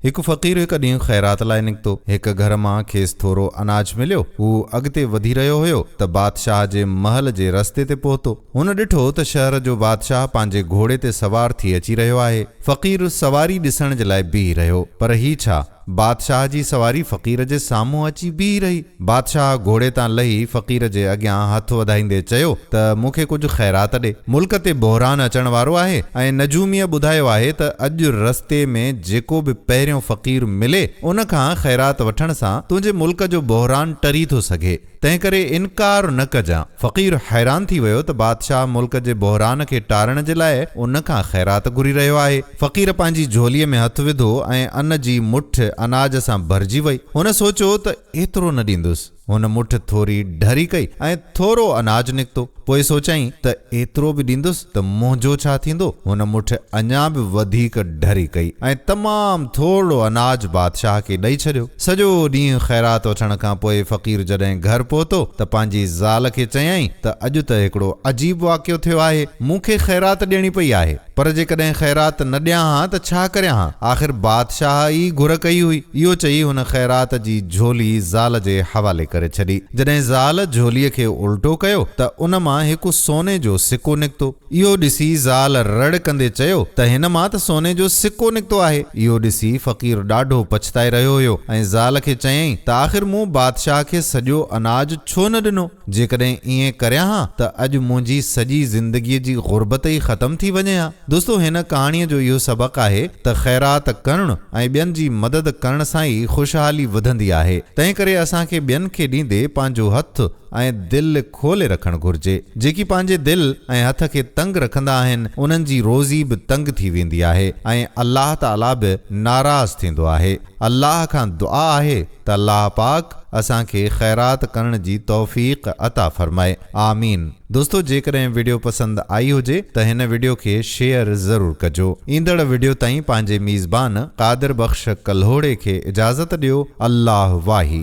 هڪ فقير هڪ ڏينهن خيرات لاء نڪتو. هڪ گهر مان کيس ٿورو اناج مليو. هو اڳتي وڌي رهيو هيو ته بادشاهه جي محل جي رستي تي پهتو. هن ڏٺو ته شهر جو بادشاهه پنهنجي گهوڙي تي سوار ٿي اچي رهيو آهي. فقير سواري ڏسڻ جي لاء بيهي رهيو. پر هي ڇا؟ بادشاهه جي سواري فقير جي سامهون اچي بيهي رهي. بادشاهه گهوڙي تان لهي فقير جي اڳيان هٿ وڌائيندي چيو ته مون کي ڪجهه خيرات ڏي. ملڪ تي بحران اچڻ وارو آهي ۽ نجوميء ٻڌايو آهي ته اڄ رستي ۾ جيڪو به پهريون فقير ملي ان کان خيرات وٺڻ سان تنهنجي ملڪ جو بحران ٽري ٿو سگهي تنهنڪري انڪار نه ڪجان. فقير حيران ٿي ويو ته بادشاهه ملڪ جي بحران کي ٽارڻ جي لاء ان کان خيرات گهري رهيو آهي. فقير پنهنجي جهوليء ۾ هٿ وڌو ۽ ان جي مٺ اناج سان ڀرجي وئي. هن سوچيو ته ايترو نه ڏيندس. هن مٺ ٿوري ڍري ڪئي ۽ ٿورو اناج نڪتو. پوء سوچيائين ته ايترو به ڏيندس ته منهنجو ڇا ٿيندو؟ هن مٺ اڃا به وڌيڪ ڍري ڪئي ۽ تمام ٿورڙو اناج بادشاهه کي ڏئي ڇڏيو. سڄو ڏينهن خيرات وٺڻ کان پوء فقير جڏهن گهر پهتو ته پنهنجي زال کي چيائين ته اڄ ته هڪڙو عجيب واقعو ٿيو آهي. مون کي خيرات ڏيڻي پئي آهي. پر جيڪڏهن خيرات نه ڏيان ها ته ڇا ڪريان ها؟ آخر بادشاهه ئي گهر ڪئي هئي. اهو چئي هن خيرات جي جهولي زال جي حوالي ڪري ڇڏي. جڏهن زال جهوليء کي الٽو ڪيو ته ان مان هڪ سوني جو سڪو نڪتو. اهو ڏسي زال رڙ ڪندي چيو ته هن مان ته سوني جو سڪو نڪتو آهي. اهو ڏسي فقير ڏاڍو پڇتائي رهيو هيو ۽ زال کي چيائين ته آخر مون بادشاهه کي سڄو اناج ڇو نه ڏنو؟ جيڪڏهن ائين ڪريان ها ته اڄ منهنجي سڄي زندگيء جي غربت ئي ختم ٿي وڃي ها. دوستو هن ڪهاڻيء جو اهو سبق آهي ته خيرات ڪرڻ ۽ ٻين جي مدد ڪرڻ سان ئي خوشحالي وڌندي آهي. تنهن ڪري اسان کي ٻين کي ڏيندي پنهنجو هٿ ۽ دل کولي رکڻ گهرجي. جيڪي پنهنجي دل ۽ هٿ کي تنگ رکندا آهن انهن جي روزي به تنگ ٿي ويندي آهي ۽ الله تعاليٰ به ناراض ٿيندو آهي. الله کان دعا آهي. ته الله پاڪ اسان کي خيرات ڪرڻ جي توفيق عطا فرمائي آمين دوستو جيڪڏهن وڊيو پسند آئي هجي ته هن وڊيو کي شيئر ضرور ڪجو ايندڙ وڊيو تائين پنهنجي ميزبان قادر بخش ڪلهوڙي کي اجازت ڏيو الله واهي.